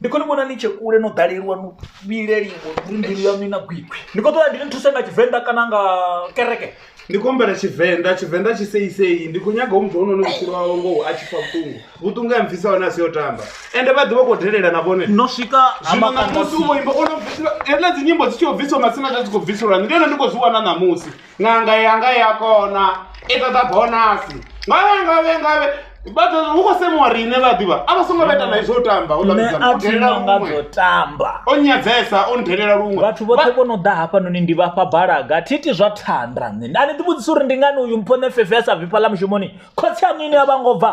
ndi khou ni vhona ni tshe kule no ḓaleliwa no vhileliwa uri mbilu yaṋu i na gwikwi ndi khou ṱoḓa ndi ni thuse nga tshivenḓa kana nga kereke ndi khou humbela tshivenḓa tshivenḓa tshi seisei ndi khou nyaga u muthu honono vhutshilo wawe ngoho a tshi pfa vhuṱungu vhuṱungu ya mpfhisa hone a si yo tamba ende vha ḓivha khou delela na vhone no swika ha zwino ṋamusi u vho makanda imba ono bvisiwa hedziḽa dzi nyimbo dzi tshi khou bvisiwa masina dza dzi khou bviselwa ndi hone ndi khou zwi wana ṋamusi ṅanga yanga ya kona i ṱoḓa bonasi ngavhe ngavhe ngavhe vhathu hu khou semuwa riṋe vha ḓivha a vha songo vheta na izwo u tamba u nṋe a thi na nga dzo tamba o nyadzesa o ndelela luṅwe vhathu vhoṱhe vho no ḓa hafhanoni ndi vhafha balaga thi iti zwa thanda nṋe a ni ḓivhudzisa uri ndi ngani uyu mpho nṋe fefe a sa bvi fhaḽa mushumoni khotsi aṋu ine a vha ngo bva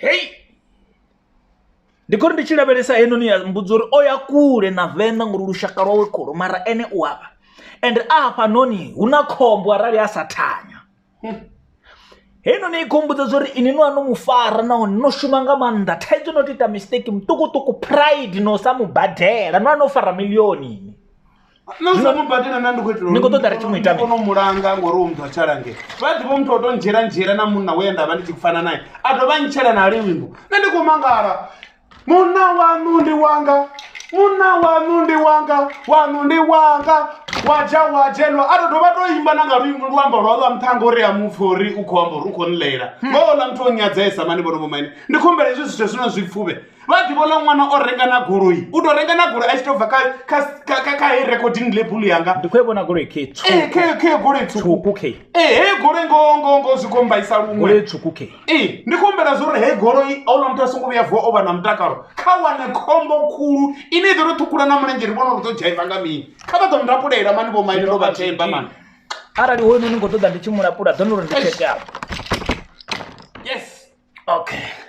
Hei! Ndi khou ri ndi tshi lavhelesa heinoni ya mmbudza uri o ya kule na venḓa ngori lushaka lwawe khulu mara ene u avha and a hafhanoni hu na khombo arali a sa thanya heinoni i khou mbudza uri ini no ano mu fara nahone no shuma nga maanḓa thaidzo no to ita mistake muṱukuṱuku pride no sa mubadela no ano fara milioni ini na u sa mu badela na ndi khou itela Ni khou ṱoḓa ri tshi mu ita mini? kono mulanga ngori u muthu a tshalange vha ḓivha muthu o to ndzhiela ndzhiela na munna we nda vha ndi tshi fana naye a dovha a ntshela na liwimbo nṋe ndi khou mangala munna wanu ndi wanga munna wanu ndi wanga wanu ndi wanga waja wajelwa a to dovha to imba na nga luimbo luambo lwa lwa nṱhanga uri a mupfa uri u khou amba uri u khou nlela ngoho ḽa muthu o nyadzesa mani vhono vho maine ndi khumbela hezwi zwithu zwino zwi pfuvhe vha ḓivha ola ṅwana o renga na goloi u to renga na goloi a tshi to bva kha he recording label yanga ndi khou e vhona goloi khe khe goloi tswuku khe he goloi ngo ngo ngo zwi kombaisa luṅwe goloi tswuku khe e ndi khou humbela zwo uri he goloi ola muthu a songo vhuya vuwa o vha na mutakalo kha wane khombo khulu ine i ḓo ri ṱhukhula na mulenzhe ri vhona uri ḓo dzhaiva nga mini kha vha ḓo mulapulela mani vho maine ndo vha themba mani arali hoyu noni ngo ṱoḓa ndi tshi mulapula ḓo no ri ndi tsheke apo yes okay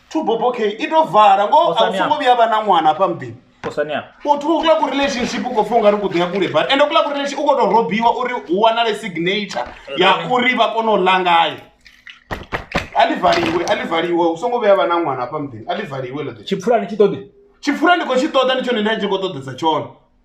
tubobokei i to vala ngo a u songo vhuya vha na ṅwana hafha muḓini u thoma u kula ku relationship u khou pfha ungari ku ḓo ya kule but ende u kula ku relationship u khou tou robiwa uri hu wanale signature ya uri vha kone u ḽa ngayo a ḽi valiwe a ḽi valiwe u songo vhuya vha na ṅwana hafha muḓini a ḽi valiwe ḽo ḓi tshipfulani tshi ṱoḓi tshipfulani ndi khou tshi ṱoḓa ndi tshone nda tshi khou ṱoḓesa tshone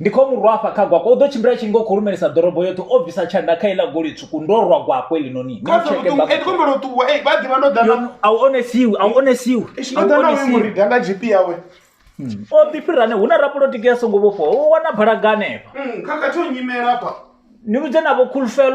ndi khou mu rwa afha kha gwakwa u ḓo tshimbila tshi ngo khou lumelisa ḓorobo yoṱhe o bvisa tshanḓa kha iḽa goli tswuku ndo rwa gwakwe linoni Kha zwa vhuṱungu, eh, ndi khou humbela u ṱuwa, eh, vha ḓivha ndo ḓa na- a u onesiwi a u onesiwi Eish, ndo ḓa na uyo murida nga GP yawe. o ḓi fhirane hu na rapolotiki ya songo vhofhiwa u wana balaga hanefha Mm, khakhathi o nyimela hafha. ni vhudze navho khulufhelo